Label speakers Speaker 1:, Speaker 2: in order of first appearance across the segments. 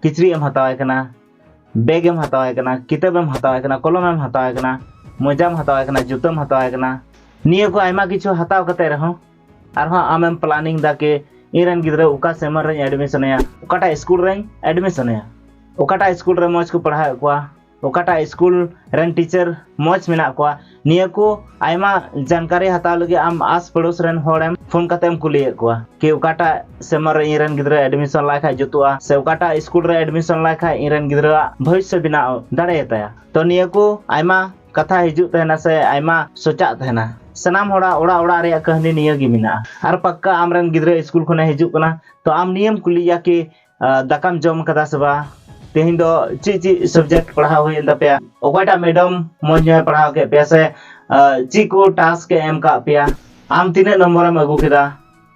Speaker 1: ᱠᱤᱪᱨᱤᱡ ᱮᱢ ᱦᱟᱛᱟᱣᱟᱭ ᱠᱟᱱᱟ ᱵᱮᱜᱽ ᱮᱢ ᱦᱟᱛᱟᱣᱟᱭ ᱠᱟᱱᱟ ᱠᱤᱛᱟᱹᱵ ᱮᱢ ᱦᱟᱛᱟᱣᱟᱭ ᱠᱟᱱᱟ ᱠᱚᱞᱚᱢ ᱮᱢ ᱦᱟᱛᱟᱣᱟᱭ ᱠᱟᱱᱟ ᱢᱚᱡᱟᱢ ᱦᱟᱛᱟᱣᱟᱭ ᱠᱟᱱᱟ ᱡᱩᱛᱟᱹᱢ ᱦᱟᱛᱟᱣᱟᱭ ᱠᱟᱱᱟ ᱱᱤᱭᱟᱹ ᱠᱚ ᱟᱭᱢᱟ ᱠᱤᱪᱷᱩ ᱦᱟᱛᱟᱣ ᱠᱟᱛᱮ ᱨᱮᱦᱚᱸ ᱟᱨᱦᱚᱸ ᱟᱢᱮᱢ ᱯᱞᱟᱱᱤᱝ ᱫᱟ ᱠᱤ ᱤᱧᱨᱮᱱ ᱜᱤᱫᱽᱨᱟᱹ ᱚᱠᱟ ᱥᱮᱢᱟᱨ ᱨᱮᱧ ᱮᱰᱢᱤᱥᱚᱱᱮᱭᱟ ᱚᱠᱟᱴᱟᱜ ᱥᱠᱩᱞ ᱨᱮᱧ ᱮᱰᱢᱤᱥᱚᱱᱮᱭᱟ ᱚᱠᱟᱴᱟᱜ ᱥᱠᱩᱞ ᱨᱮ ᱢᱚᱡᱽ ᱠᱚ ᱯᱟᱲᱦᱟᱣᱮᱫ ᱠᱚᱣᱟ ᱚᱠᱟᱴᱟᱜ ᱥᱠᱩᱞ ᱨᱮᱱ ᱴᱤᱪᱟᱨ ᱢᱚᱡᱽ ᱢᱮᱱᱟᱜ ᱠᱚᱣᱟ ᱱᱤᱭᱟᱹ ᱠᱚ ᱟᱭᱢᱟ ᱡᱟᱱᱠᱟᱨᱤ ᱦᱟᱛᱟᱣ ᱞᱟᱹᱜᱤᱫ ᱟᱢ ᱟᱥ ᱯᱟᱲᱳᱥ ᱨᱮᱱ ᱦᱚᱲᱮᱢ ᱯᱷᱳᱱ ᱠᱟᱛᱮᱢ ᱠᱩᱞᱤᱭᱮᱫ ᱠᱚᱣᱟ ᱠᱤ ᱚᱠᱟᱴᱟᱜ ᱥᱮᱢᱟᱨ ᱨᱮ ᱤᱧᱨᱮᱱ ᱜᱤᱫᱽᱨᱟᱹ ᱮᱰᱢᱤᱥᱚᱱ ᱞᱟᱭ ᱠᱷᱟᱡ ᱡᱩᱛᱩᱜᱼᱟ ᱥᱮ ᱚᱠᱟᱴᱟᱜ ᱥᱠᱩᱞ ᱨᱮ ᱮᱰᱢᱤᱥᱚᱱ ᱞᱟᱭ ᱠᱷᱟᱡ ᱤᱧᱨᱮᱱ ᱜᱤᱫᱽᱨᱟᱹᱣᱟᱜ ᱵᱷᱚᱵᱤᱥᱥᱚ ᱵᱮᱱᱟᱣ ᱫᱟᱲᱮᱭᱟᱛᱟᱭᱟ ᱛᱚ ᱱᱤᱭᱟᱹ ᱠᱚ ᱟᱭᱢᱟ ᱠᱟᱛᱷᱟ ᱦᱤᱡᱩᱜ ᱛᱟᱦᱮᱱᱟ ᱥᱮ ᱟᱭᱢᱟ ᱥᱚᱪᱟᱜ ᱛᱟᱦᱮᱱᱟ ᱥᱟᱱᱟᱢ ᱦᱚᱲᱟᱜ ᱚᱲᱟᱜ ᱚᱲᱟᱜ ᱨᱮᱭᱟᱜ ᱠᱟᱹᱦᱱᱤ ᱱᱤᱭᱟᱹ ᱜᱮ ᱢᱮᱱᱟᱜᱼᱟ ᱟᱨ ᱯᱟᱠᱠᱟ ᱟᱢᱨᱮᱱ ᱜᱤᱫᱽᱨᱟᱹ ᱥᱠᱩᱞ ᱠᱷᱚᱱᱮ ᱦᱤᱡᱩᱜ ᱠᱟᱱᱟ ᱛᱚ ᱟᱢ ᱱᱤᱭᱟᱹᱢ ᱠᱩᱞᱤᱭᱟ ᱠᱤ ᱫᱟᱠᱟᱢ ᱡᱚᱢ ᱠᱟᱫᱟ ᱥᱮ ᱵᱟᱝ ᱛᱮᱦᱮᱧ ᱫᱚ ᱪᱮᱫ ᱪᱮᱫ ᱥᱟᱵᱡᱮᱠᱴ ᱯᱟᱲᱦᱟᱣ ᱦᱩᱭᱮᱱ ᱛᱟᱯᱮᱭᱟ ᱚᱠᱚᱭᱴᱟᱜ ᱢᱮᱰᱟᱢ ᱢᱚᱡᱽ ᱧᱚᱜ ᱯᱟᱲᱦᱟᱣ ᱠᱮᱫ ᱯᱮᱭᱟ ᱥᱮ ᱪᱮᱫ ᱠᱚ ᱴᱟᱥᱠ ᱮ ᱮᱢ ᱠᱟᱜ ᱯᱮᱭᱟ ᱟᱢ ᱛᱤᱱᱟᱹᱜ ᱱᱚᱢᱵᱚᱨᱮᱢ ᱟᱹᱜᱩ ᱠᱮᱫᱟ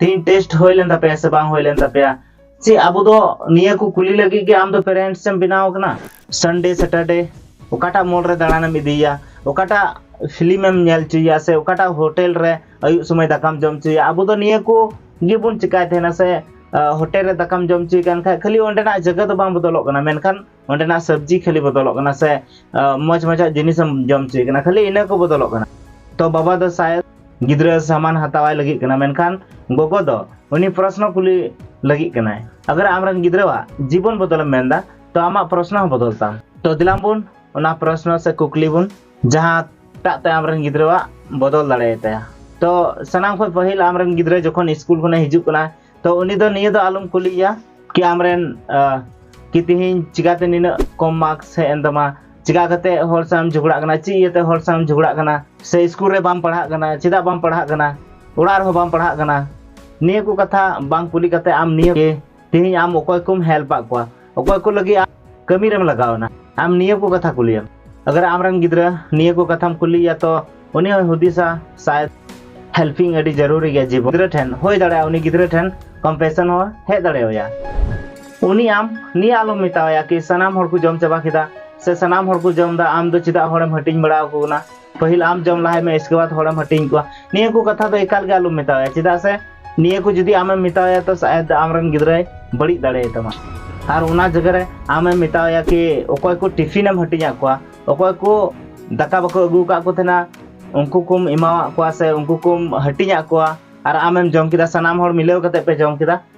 Speaker 1: ᱛᱮᱦᱮᱧ ᱴᱮᱥᱴ ᱦᱩᱭ ᱞᱮᱱ ᱛᱟᱯᱮᱭᱟ ᱥᱮ ᱵᱟᱝ ᱦᱩᱭ ᱞᱮᱱ ᱛᱟᱯᱮᱭᱟ ᱪᱮ ᱟᱵᱚ ᱫᱚ ᱱᱤᱭᱟᱹ ᱠᱚ ᱠᱩᱞᱤ ᱞᱟᱹᱜᱤᱫ ᱜᱮ ᱟᱢ ᱫᱚ ᱯᱮᱨᱮᱱᱴᱥ ᱮᱢ ᱵᱮᱱᱟᱣ ᱠᱟᱱᱟ ᱥᱟᱱᱰᱮ ᱥᱮᱴᱟᱨᱰᱮ ᱚᱠᱟᱴᱟᱜ ᱢᱚᱞ ᱨᱮ ᱫᱟᱬᱟᱱᱮᱢ ᱤᱫᱤᱭᱟ ᱚᱠᱟᱴᱟᱜ ᱯᱷᱤᱞᱢ ᱮᱢ ᱧᱮᱞ ᱦᱚᱪᱚᱭᱟ ᱥᱮ ᱚᱠᱟᱴᱟᱜ ᱦᱳᱴᱮᱞ ᱨᱮ ᱟᱹᱭᱩᱵ ᱥᱚᱢᱚᱭ ᱫᱟᱠᱟᱢ ᱡᱚᱢ ᱦᱚᱪᱚᱭᱟ ᱟᱵᱚ ᱫᱚ ᱱᱤᱭᱟᱹ ᱠᱚ ᱜᱮᱵᱚᱱ ᱪᱮᱠᱟᱭ ᱛᱟᱦᱮᱱᱟ ᱥᱮ ᱦᱳᱴᱮᱞ ᱨᱮ ᱫᱟᱠᱟᱢ ᱡᱚᱢ ᱦᱚᱪᱚᱭ ᱠᱟᱱ ᱠᱷᱟᱡ ᱠᱷᱟᱹᱞᱤ ᱚᱸᱰᱮᱱᱟᱜ ᱡᱟᱭᱜᱟ ᱫᱚ ᱵᱟᱝ ᱵᱚᱫᱚᱞᱚᱜ ᱠᱟᱱᱟ ᱢᱮᱱᱠᱷᱟᱱ ᱚᱸᱰᱮᱱᱟᱜ ᱥᱚᱵᱽᱡᱤ ᱠᱷᱟᱹᱞᱤ ᱵᱚᱫᱚᱞᱚᱜ ᱠᱟᱱᱟ ᱥᱮ ᱢᱚᱡᱽ ᱢᱚᱡᱟᱜ ᱡᱤᱱᱤᱥᱮᱢ ᱡᱚᱢ ᱦᱚᱪᱚᱭ ᱠᱟᱱᱟ ᱠᱷᱟᱹᱞᱤ ᱤᱱᱟᱹ ᱠᱚ ᱵᱚᱫᱚᱞᱚᱜ ᱠᱟᱱᱟ ᱛᱚ ᱵᱟᱵᱟ ᱫᱚ ᱥᱟᱭᱮᱫ ᱜᱤᱫᱽᱨᱟᱹ ᱥᱟᱢᱟᱱ ᱦᱟᱛᱟᱣᱟᱭ ᱞᱟᱹᱜᱤᱫ ᱠᱟᱱᱟ ᱢᱮᱱᱠᱷᱟᱱ ᱜᱚᱜᱚ ᱫᱚ ᱩᱱᱤ ᱯᱨᱚᱥᱱᱚ ᱠᱩᱞᱤ ᱞᱟᱹᱜᱤᱫ ᱠᱟᱱᱟᱭ ᱟᱜᱟᱨ ᱟᱢᱨᱮᱱ ᱜᱤᱫᱽᱨᱟᱹᱣᱟᱜ ᱡᱤᱵᱚᱱ ᱵᱚᱫᱚᱞᱮᱢ ᱢᱮᱱᱫᱟ ᱛᱚ ᱟᱢᱟᱜ ᱯᱨᱚᱥᱱᱚ ᱦᱚᱸ ᱵᱚᱫᱚᱞ ᱛᱟᱢ ᱛᱚ ᱫᱮᱞᱟᱝ ᱵᱚᱱ ᱚᱱᱟ ᱯᱨᱚᱥᱱᱚ ᱥᱮ ᱠᱩᱠᱞᱤ ᱵᱚᱱ ᱡᱟᱦᱟᱸ ᱴᱟᱜ ᱛᱮ ᱟᱢᱨᱮᱱ ᱜᱤᱫᱽᱨᱟᱹᱣᱟᱜ ᱵᱚᱫᱚᱞ ᱫᱟᱲᱮᱭᱟᱛᱟᱭᱟ ᱛᱚ ᱥᱟᱱᱟᱢ ᱠᱷᱚᱱ ᱯᱟᱹᱦᱤᱞ ᱟᱢᱨᱮᱱ ᱜᱤᱫᱽᱨᱟᱹ ᱡᱚᱠᱷᱚᱱ ᱥᱠᱩᱞ ᱠᱷᱚᱱᱮ ᱦᱤᱡᱩᱜ ᱠᱟᱱᱟ ᱛᱚ ᱩᱱᱤ ᱫᱚ ᱱᱤᱭᱟᱹ ᱫᱚ ᱟᱞᱚᱢ ᱠᱩᱞᱤᱭᱮᱭᱟ ᱠᱤ ᱟᱢᱨᱮᱱ ᱠᱤ ᱛᱮᱦᱮᱧ ᱪᱤᱠᱟᱛᱮ ᱱᱤᱱᱟᱹᱜ ᱠᱚᱢ ᱢᱟᱨᱠᱥ ᱦᱮᱡ ᱮᱱ ᱛᱟᱢᱟ ᱪᱤᱠᱟ ᱠᱟᱛᱮ ᱦᱚᱲ ᱥᱟᱶᱮᱢ ᱡᱷᱚᱜᱽᱲᱟᱜ ᱠᱟᱱᱟ ᱪᱮᱫ ᱤᱭᱟᱹᱛᱮ ᱦᱚᱲ ᱥᱟᱶᱮᱢ ᱡᱷᱚᱜᱽᱲᱟᱜ ᱠᱟᱱᱟ ᱥᱮ ᱥᱠᱩᱞ ᱨᱮ ᱵᱟᱢ ᱯᱟᱲᱦᱟᱜ ᱠᱟᱱᱟ ᱪᱮᱫᱟᱜ ᱵᱟᱢ ᱯᱟᱲᱦᱟᱜ ᱠᱟᱱᱟ ᱚᱲᱟᱜ ᱨᱮᱦᱚᱸ ᱵᱟᱢ ᱯᱟᱲᱦᱟᱜ ᱠᱟᱱᱟ ᱱᱤᱭᱟᱹ ᱠᱚ ᱠᱟᱛᱷᱟ ᱵᱟᱝ ᱠᱩᱞᱤ ᱠᱟᱛᱮ ᱟᱢ ᱱᱤᱭᱟᱹ ᱛᱮᱦᱮᱧ ᱟᱢ ᱚᱠᱚᱭ ᱠᱚᱢ ᱦᱮᱞᱯ ᱟᱫ ᱠᱚᱣᱟ ᱚᱠᱚᱭ ᱠᱚ ᱞᱟᱹᱜᱤᱫ ᱟᱢ ᱠᱟᱹᱢᱤ ᱨᱮᱢ ᱞᱟᱜᱟᱣᱱᱟ ᱟᱢ ᱱᱤᱭᱟᱹ ᱠᱚ ᱠᱟᱛᱷᱟ ᱠᱩᱞᱤᱭᱮᱢ ᱟᱜᱟᱨ ᱟᱢᱨᱮᱱ ᱜᱤᱫᱽᱨᱟᱹ ᱱᱤᱭᱟᱹ ᱠᱚ ᱠᱟᱛᱷᱟᱢ ᱠᱩᱞᱤᱭᱟ ᱛᱚ ᱩᱱᱤ ᱦᱚᱸᱭ ᱦᱩᱫᱤᱥᱟ ᱥᱟᱭ ᱦᱮᱞᱯᱤᱝ ᱟᱹᱰᱤ ᱡᱟᱹᱨᱩᱨᱤ ᱜᱮᱭᱟ ᱡᱤᱵᱚᱱ ᱜᱤᱫᱽᱨᱟᱹ ᱴᱷᱮᱱ ᱦᱩᱭ ᱫᱟᱲᱮᱭᱟᱜᱼᱟ ᱩᱱᱤ ᱜᱤᱫᱽᱨᱟᱹ ᱴᱷᱮᱱ ᱠᱚᱢᱯᱮᱥᱚᱱ ᱦᱚᱸ ᱦᱮᱡ ᱫᱟᱲᱮᱣᱟᱭᱟ ᱩᱱᱤ ᱟᱢ ᱱᱤᱭᱟᱹ ᱟᱞᱚᱢ ᱢᱮᱛᱟᱣᱟᱭᱟ ᱠᱤ ᱥᱟᱱᱟᱢ ᱦᱚᱲ ᱠᱚ ᱡᱚᱢ ᱪᱟᱵᱟ ᱠᱮᱫᱟ ᱥᱮ ᱥᱟᱱᱟᱢ ᱦᱚᱲ ᱠᱚ ᱡᱚᱢ ᱮᱫᱟ ᱟᱢ ᱫᱚ ᱪᱮᱫᱟᱜ ᱦᱚᱲᱮᱢ ᱦᱟᱹᱴᱤᱧ ᱵᱟᱲᱟ ᱟᱠᱚ ᱠᱟᱱᱟ ᱯᱟᱹᱦᱤᱞ ᱟᱢ ᱡᱚᱢ ᱞᱟᱦᱟᱭ ᱢᱮ ᱤᱥᱠᱮ ᱵᱟᱫ ᱦᱚᱲᱮᱢ ᱦᱟᱹᱴᱤᱧ ᱠᱚᱣᱟ ᱱᱤᱭᱟᱹ ᱠᱚ ᱠᱟᱛᱷᱟ ᱫᱚ ᱮᱠᱟᱞ ᱜᱮ ᱟᱞᱚᱢ ᱢᱮᱛᱟᱣᱟᱭᱟ ᱪᱮᱫᱟᱜ ᱥᱮ ᱱᱤᱭᱟᱹ ᱠᱚ ᱡᱩᱫᱤ ᱟᱢᱮᱢ ᱢᱮᱛᱟᱣᱟᱭᱟ ᱛᱚ ᱥᱟᱭᱟᱫ ᱟᱢᱨᱮᱱ ᱜᱤᱫᱽᱨᱟᱹᱭ ᱵᱟᱹᱲᱤᱡ ᱫᱟᱲᱮᱭᱟᱭ ᱛᱟᱢᱟ ᱟᱨ ᱚᱱᱟ ᱡᱟᱭᱜᱟ ᱨᱮ ᱟᱢᱮᱢ ᱢᱮᱛᱟᱣᱟᱭᱟ ᱠᱤ ᱚᱠᱚᱭ ᱠᱚ ᱴᱤᱯᱷᱤᱱᱮᱢ ᱦᱟᱹᱴᱤᱧᱟᱫ ᱠᱚᱣᱟ ᱚᱠᱚᱭ ᱠᱚ ᱫᱟᱠᱟ ᱵᱟᱠᱚ ᱟᱹᱜᱩ ᱟᱠᱟᱫ ᱠᱚ ᱛᱟᱦᱮᱱᱟ ᱩᱱᱠᱩ ᱠᱚᱢ ᱮᱢᱟᱣᱟᱫ ᱠᱚᱣᱟ ᱥᱮ ᱩᱱᱠᱩ ᱠᱚᱢ ᱦᱟᱹᱴᱤᱧᱟᱫ ᱠᱚᱣᱟ ᱟᱨ ᱟᱢᱮᱢ ᱡᱚᱢ ᱠᱮᱫᱟ ᱥᱟᱱᱟᱢ ᱦᱚᱲ ᱢᱤᱞᱟᱹᱣ ᱠᱟᱛᱮ ᱯᱮ ᱡᱚᱢ ᱠᱮᱫᱟ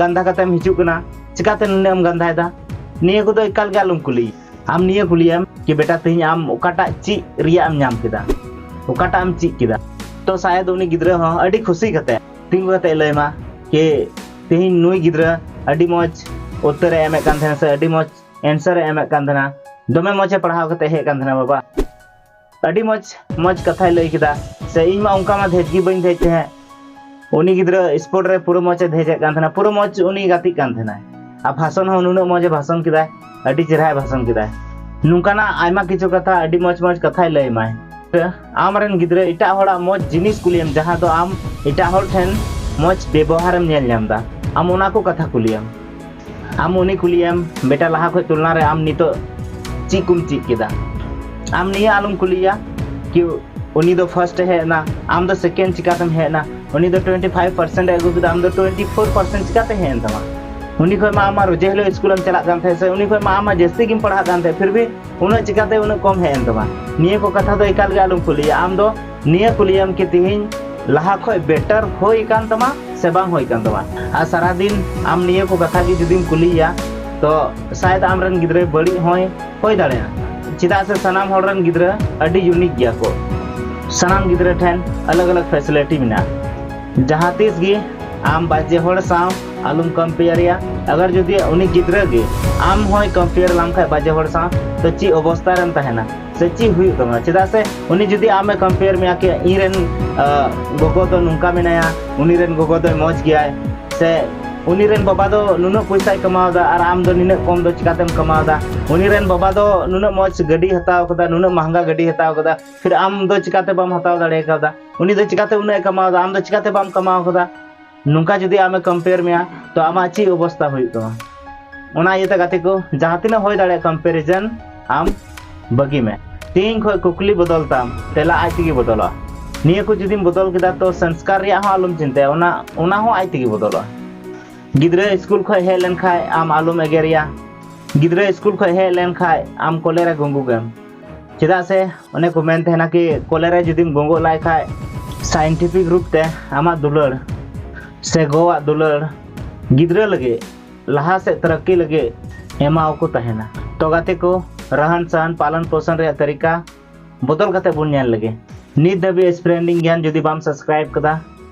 Speaker 1: ᱜᱟᱱᱫᱷᱟ ᱠᱟᱛᱮᱢ ᱦᱤᱡᱩᱜ ᱠᱟᱱᱟ ᱪᱤᱠᱟᱛᱮ ᱱᱩᱱᱟᱹᱜ ᱮᱢ ᱜᱟᱱᱫᱷᱟᱭᱮᱫᱟ ᱱᱤᱭᱟᱹ ᱠᱚᱫᱚ ᱮᱠᱟᱞ ᱜᱮ ᱟᱞᱚᱢ ᱠᱩᱞᱤ ᱟᱢ ᱱᱤᱭᱟᱹ ᱠᱩᱞᱤᱭᱟᱢ ᱠᱤ ᱵᱮᱴᱟ ᱛᱮᱦᱮᱧ ᱟᱢ ᱚᱠᱟᱴᱟᱜ ᱪᱮᱫ ᱨᱮᱭᱟᱜ ᱮᱢ ᱧᱟᱢ ᱠᱮᱫᱟ ᱚᱠᱟᱴᱟᱜ ᱮᱢ ᱪᱮᱫ ᱠᱮᱫᱟ ᱛᱚ ᱥᱟᱭᱟᱫ ᱩᱱᱤ ᱜᱤᱫᱽᱨᱟᱹ ᱦᱚᱸ ᱟᱹᱰᱤ ᱠᱷᱩᱥᱤ ᱠᱟᱛᱮ ᱛᱤᱸᱜᱩ ᱠᱟᱛᱮ ᱞᱟᱹᱭᱢᱟ ᱠᱤ ᱛᱮᱦᱮᱧ ᱱᱩᱭ ᱜᱤᱫᱽᱨᱟᱹ ᱟᱹᱰᱤ ᱢᱚᱡᱽ ᱩᱛᱛᱚᱨ ᱮ ᱮᱢᱮᱫ ᱠᱟᱱ ᱛᱟᱦᱮᱱᱟ ᱥᱮ ᱟᱹᱰᱤ ᱢᱚᱡᱽ ᱮᱱᱥᱟᱨ ᱮ ᱮᱢᱮᱫ ᱠᱟᱱ ᱛᱟᱦᱮᱱᱟ ᱫᱚᱢᱮ ᱢᱚᱡᱽ ᱮ ᱯᱟᱲᱦᱟᱣ ᱠᱟᱛᱮ ᱦᱮᱡ ᱠᱟᱱ ᱛᱟᱦᱮᱱᱟ ᱵᱟᱵᱟ ᱟᱹᱰᱤ ᱢᱚᱡᱽ ᱢᱚᱡᱽ ᱠᱟᱛᱷᱟᱭ ᱞᱟᱹᱭ ᱠᱮᱫᱟ ᱥᱮ ᱤᱧ ᱢᱟ ᱚᱱᱠᱟ ᱢᱟ ᱫᱷᱮᱡ ᱜᱮ ᱵᱟᱹᱧ ᱫᱷᱮᱡ ᱛᱟᱦᱮᱸᱫ ᱩᱱᱤ ᱜᱤᱫᱽᱨᱟᱹ ᱥᱯᱳᱨᱴ ᱨᱮ ᱯᱩᱨᱟᱹ ᱢᱚᱡᱽ ᱮ ᱫᱷᱮᱡᱮᱫ ᱠᱟᱱ ᱛᱟᱦᱮᱱᱟ ᱯᱩᱨᱟᱹ ᱢᱚᱡᱽ ᱩᱱᱤ ᱜᱟᱛᱮᱜ ᱠᱟᱱ ᱛᱟᱦᱮᱱᱟᱭ ᱟᱨ ᱵᱷᱟᱥᱚᱱ ᱦᱚᱸ ᱱᱩᱱᱟᱹᱜ ᱢᱚᱡᱽ ᱮ ᱵᱷᱟᱥᱚᱱ ᱠᱮᱫᱟᱭ ᱟᱹᱰᱤ ᱪᱮᱦᱨᱟᱭ ᱵᱷᱟᱥᱚᱱ ᱠᱮᱫᱟᱭ ᱱᱚᱝᱠᱟᱱᱟᱜ ᱟᱭᱢᱟ ᱠᱤᱪᱷᱩ ᱠᱟᱛᱷᱟ ᱟᱹᱰᱤ ᱢᱚᱡᱽ ᱢᱚᱡᱽ ᱠᱟᱛᱷᱟᱭ ᱞᱟᱹᱭ ᱢᱟᱭ ᱟᱢ ᱨᱮᱱ ᱜᱤᱫᱽᱨᱟᱹ ᱮᱴᱟᱜ ᱦᱚᱲᱟᱜ ᱢᱚᱡᱽ ᱡᱤᱱᱤᱥ ᱠᱩᱞᱤᱭᱮᱢ ᱡᱟᱦᱟᱸ ᱫᱚ ᱟᱢ ᱮᱴᱟᱜ ᱦᱚᱲ ᱴᱷᱮᱱ ᱢᱚᱡᱽ ᱵᱮᱵᱚᱦᱟᱨᱮᱢ ᱧᱮᱞ ᱧᱟᱢ ᱮᱫᱟ ᱟᱢ ᱚᱱᱟ ᱠᱚ ᱠᱟᱛᱷᱟ ᱠᱩᱞᱤᱭᱮᱢ ᱟᱢ ᱩᱱᱤ ᱠᱩᱞᱤᱭᱮᱢ ᱵᱮᱴᱟ ᱞᱟᱦᱟ ᱠᱷᱚᱡ ᱛᱩᱞᱱᱟ ᱨᱮ ᱟᱢ ᱱᱤᱛᱚᱜ ᱪᱮᱫ ᱠᱚᱢ ᱪᱮᱫ ᱠᱮᱫᱟ ᱟᱢ ᱱᱤᱭᱟᱹ ᱟᱞᱚᱢ ᱠᱩᱞᱤᱭᱟ ᱠᱤ ᱩᱱᱤ ᱫᱚ ᱯᱷᱟᱨᱥᱴ ᱮ ᱦᱮᱡ ᱮᱱᱟ ᱟᱢ ᱫᱚ ᱥᱮᱠᱮᱱᱰ ᱪᱤᱠᱟᱛᱮᱢ ᱦᱮᱡ ᱮᱱᱟ ᱩᱱᱤ ᱫᱚ ᱴᱩᱭᱮᱱᱴᱤ ᱯᱷᱟᱭᱤᱵᱷ ᱯᱟᱨᱥᱮᱱᱴ ᱮ ᱟᱹᱜᱩ ᱠᱮᱫᱟ ᱟᱢ ᱫᱚ ᱴᱩᱭᱮᱱᱴᱤ ᱯᱷᱳᱨ ᱯᱟᱨᱥᱮᱱᱴ ᱪᱤᱠᱟᱛᱮ ᱦᱮᱡ ᱮᱱ ᱛᱟᱢᱟ ᱩᱱᱤ ᱠᱷᱚᱡ ᱢᱟ ᱟᱢᱟᱜ ᱨᱚᱡᱮ ᱦᱤᱞᱳᱜ ᱥᱠᱩᱞᱮᱢ ᱪᱟᱞᱟᱜ ᱠᱟᱱ ᱛᱟᱦᱮᱸ ᱥᱮ ᱩᱱᱤ ᱠᱷᱚᱡ ᱢᱟ ᱟᱢᱟᱜ ᱡᱟᱹᱥᱛᱤ ᱜᱮᱢ ᱯᱟᱲᱦᱟᱜ ᱠᱟᱱ ᱛᱟᱦᱮᱸ ᱯᱷᱤᱨ ᱵᱷᱤ ᱩᱱᱟᱹᱜ ᱪᱤᱠᱟᱛᱮ ᱩᱱᱟᱹᱜ ᱠᱚᱢ ᱦᱮᱡ ᱮᱱ ᱛᱟᱢᱟ ᱱᱤᱭᱟᱹ ᱠᱚ ᱠᱟᱛᱷᱟ ᱫᱚ ᱮᱠᱟᱞ ᱜᱮ ᱟᱞᱚᱢ ᱠᱩᱞᱤᱭᱟ ᱟᱢ ᱫᱚ ᱱᱤᱭᱟᱹ ᱠᱩᱞᱤᱭᱟᱢ ᱠᱤ ᱛᱤᱦᱤᱧ ᱞᱟᱦᱟ ᱠᱷᱚᱡ ᱵᱮᱴᱟᱨ ᱦᱩᱭ ᱠᱟᱱ ᱛᱟᱢᱟ ᱥᱮ ᱵᱟᱝ ᱦᱩᱭ ᱠᱟᱱ ᱛᱟᱢᱟ ᱟᱨ ᱥᱟᱨᱟ ᱫᱤᱱ ᱟᱢ ᱱᱤᱭᱟᱹ ᱠᱚ ᱠᱟᱛᱷᱟ ᱜᱮ ᱡᱩᱫᱤᱢ ᱠᱩᱞᱤᱭᱟ ᱛᱚ ᱥᱟᱭᱫ ᱟᱢ ᱨᱮᱱ ᱜᱤᱫᱽᱨᱟᱹ ᱵᱟᱹᱲᱤᱡ ᱦᱚᱸᱭ ᱦᱩᱭ ᱫᱟᱲᱮᱭᱟᱜᱼᱟ ᱪᱮᱫᱟᱜ ᱥᱮ ᱥᱟᱱᱟᱢ ᱦᱚᱲ ᱨᱮᱱ ᱜᱤᱫᱽᱨᱟᱹ ᱟᱹᱰᱤ ᱭᱩᱱᱤᱠ ᱜᱮᱭᱟ ᱠᱚ ᱥᱟᱱᱟᱢ ᱜᱤᱫᱽᱨᱟᱹ ᱴᱷᱮᱱ ᱟᱞᱟᱜ ᱟᱞᱟᱜ ᱯᱷᱮᱥᱤᱞᱤᱴᱤ ᱢᱮᱱᱟᱜᱼᱟ ᱡᱟᱦᱟᱸ ᱛᱤᱥ ᱜᱮ ᱟᱢ ᱵᱟᱡᱮ ᱦᱚᱲ ᱥᱟᱶ ᱟᱞᱚᱢ ᱠᱚᱢᱯᱮᱭᱟᱨᱮᱭᱟ ᱟᱜᱟᱨ ᱡᱩᱫᱤ ᱩᱱᱤ ᱜᱤᱫᱽᱨᱟᱹ ᱜᱮ ᱟᱢ ᱦᱚᱸᱭ ᱠᱚᱢᱯᱮᱭᱟᱨ ᱞᱟᱢ ᱠᱷᱟᱡ ᱵᱟᱡᱮ ᱦᱚᱲ ᱥᱟᱶ ᱛᱚ ᱪᱮᱫ ᱚᱵᱚᱥᱛᱟ ᱨᱮᱢ ᱛᱟᱦᱮᱱᱟ ᱥᱮ ᱪᱮᱫ ᱦᱩᱭᱩᱜ ᱛᱟᱢᱟ ᱪᱮᱫᱟᱜ ᱥᱮ ᱩᱱᱤ ᱡᱩᱫᱤ ᱟᱢᱮ ᱠᱚᱢᱯᱮᱭᱟᱨ ᱢᱮᱭᱟ ᱠᱤ ᱤᱧ ᱨᱮᱱ ᱜᱚᱜᱚ ᱫᱚ ᱱᱚᱝᱠᱟ ᱢᱮᱱᱟᱭᱟ ᱩᱱᱤ ᱨᱮᱱ ᱜᱚᱜᱚ ᱫᱚᱭ ᱢᱚᱡᱽ ᱜᱮᱭᱟᱭ ᱥᱮ ᱩᱱᱤ ᱨᱮᱱ ᱵᱟᱵᱟ ᱫᱚ ᱱᱩᱱᱟᱹᱜ ᱯᱚᱭᱥᱟᱭ ᱠᱟᱢᱟᱣᱫᱟ ᱟᱨ ᱟᱢ ᱫᱚ ᱱᱤᱱᱟᱹᱜ ᱠᱚᱢ ᱫᱚ ᱪᱤᱠᱟᱛᱮᱢ ᱠᱟᱢᱟᱣᱫᱟ ᱩᱱᱤ ᱨᱮᱱ ᱵᱟᱵᱟ ᱫᱚ ᱱᱩᱱᱟᱹᱜ ᱢᱚᱡᱽ ᱜᱟᱹᱰᱤ ᱦᱟᱛᱟᱣ ᱠᱟᱫᱟ ᱱᱩᱱᱟᱹᱜ ᱢᱟᱦᱟᱝᱜᱟ ᱜᱟᱹᱰᱤ ᱦᱟᱛᱟᱣ ᱠᱟᱫᱟ ᱯᱷᱤᱨ ᱟᱢ ᱫᱚ ᱪᱤᱠᱟᱛᱮ ᱵᱟᱢ ᱦᱟᱛᱟᱣ ᱫᱟᱲᱮ ᱠᱟᱣᱫᱟ ᱩᱱᱤ ᱫᱚ ᱪᱤᱠᱟᱛᱮ ᱩᱱᱟᱹᱜ ᱮ ᱠᱟᱢᱟᱣᱫᱟ ᱟᱢ ᱫᱚ ᱪᱤᱠᱟᱛᱮ ᱵᱟᱢ ᱠᱟᱢᱟᱣ ᱠᱟᱫᱟ ᱱᱚᱝᱠᱟ ᱡᱩᱫᱤ ᱟᱢᱮ ᱠᱚᱢᱯᱮᱭᱟᱨ ᱢᱮᱭᱟ ᱛᱚ ᱟᱢᱟᱜ ᱪᱮᱫ ᱚᱵᱚᱥᱛᱟ ᱦᱩᱭᱩᱜ ᱛᱟᱢᱟ ᱚᱱᱟ ᱤᱭᱟᱹᱛᱮ ᱜᱟᱛᱮ ᱠᱚ ᱡᱟᱦᱟᱸ ᱛᱤᱱᱟᱹᱜ ᱦᱩᱭ ᱫᱟᱲᱮᱭᱟᱜ ᱠᱚᱢᱯᱮᱨᱤᱡᱚᱱ ᱟᱢ ᱵᱟᱹᱜᱤ ᱢᱮ ᱛᱮᱦᱮᱧ ᱠᱷᱚᱱ ᱠᱩᱠᱞᱤ ᱵᱚᱫᱚᱞ ᱛᱟᱢ ᱛᱮᱞᱟ ᱟᱡ ᱛᱮᱜᱮ ᱵᱚᱫᱚᱞᱚᱜᱼᱟ ᱱᱤᱭᱟᱹ ᱠᱚ ᱡᱩᱫᱤᱢ ᱵᱚᱫᱚᱞ ᱠᱮᱫᱟ ᱛᱚ ᱥᱚᱝᱥᱠᱟᱨ ᱨᱮᱭᱟᱜ ᱦᱚᱸ ᱟᱞᱚᱢ ᱪᱤᱱᱛᱟᱹᱭᱟ ᱚᱱᱟ ᱚᱱᱟ ᱦᱚᱸ ᱟᱡ ᱛᱮᱜᱮ ᱵᱚᱫᱚᱞᱚᱜᱼᱟ ᱜᱤᱫᱽᱨᱟᱹ ᱥᱠᱩᱞ ᱠᱷᱚᱱ ᱦᱮᱡ ᱞᱮᱱᱠᱷᱟᱱ ᱟᱢ ᱟᱞᱚᱢ ᱮᱜᱮᱨᱮᱭᱟ ᱜᱤᱫᱽᱨᱟᱹ ᱥᱠᱩᱞ ᱠᱷᱚᱱ ᱦᱮᱡ ᱞᱮᱱᱠᱷᱟᱱ ᱟᱢ ᱠᱚᱞᱮᱨᱮ ᱜᱩᱸᱜᱩᱜᱮᱢ ᱪᱮᱫᱟᱜ ᱥᱮ ᱚᱱᱮ ᱠᱚ ᱢᱮᱱ ᱛᱟᱦᱮᱱᱟ ᱠᱤ ᱠᱚᱞᱮ ᱨᱮ ᱡᱩᱫᱤᱢ ᱜᱚᱸᱜᱚᱜ ᱞᱟᱭ ᱠᱷᱟᱡ ᱥᱟᱭᱮᱱᱴᱤᱯᱷᱤᱠ ᱨᱩᱯ ᱛᱮ ᱟᱢᱟᱜ ᱫᱩᱞᱟᱹᱲ ᱥᱮ ᱜᱚᱣᱟᱜ ᱫᱩᱞᱟᱹᱲ ᱜᱤᱫᱽᱨᱟᱹ ᱞᱟᱹᱜᱤᱫ ᱞᱟᱦᱟ ᱥᱮᱫ ᱛᱟᱨᱟᱠᱠᱤ ᱞᱟᱹᱜᱤᱫ ᱮᱢᱟᱣ ᱠᱚ ᱛᱟᱦᱮᱱᱟ ᱛᱚ ᱜᱟᱛᱮ ᱠᱚ ᱨᱟᱦᱟᱱ ᱥᱟᱦᱟᱱ ᱯᱟᱞᱚᱱ ᱯᱳᱥᱚᱱ ᱨᱮᱭᱟᱜ ᱛᱟᱹᱨᱤᱠᱟ ᱵᱚᱫᱚᱞ ᱠᱟᱛᱮ ᱵᱚᱱ ᱧᱮᱞ ᱞᱮᱜᱮ ᱱᱤᱛ ᱫᱷᱟᱹᱵᱤᱡ ᱥᱯᱨᱮᱱᱰᱤᱝ ᱜᱮᱭᱟᱱ ᱡᱩᱫᱤ ᱵᱟᱢ ᱥᱟᱵᱥᱠᱨᱟᱭᱤᱵ ᱠᱟᱫᱟ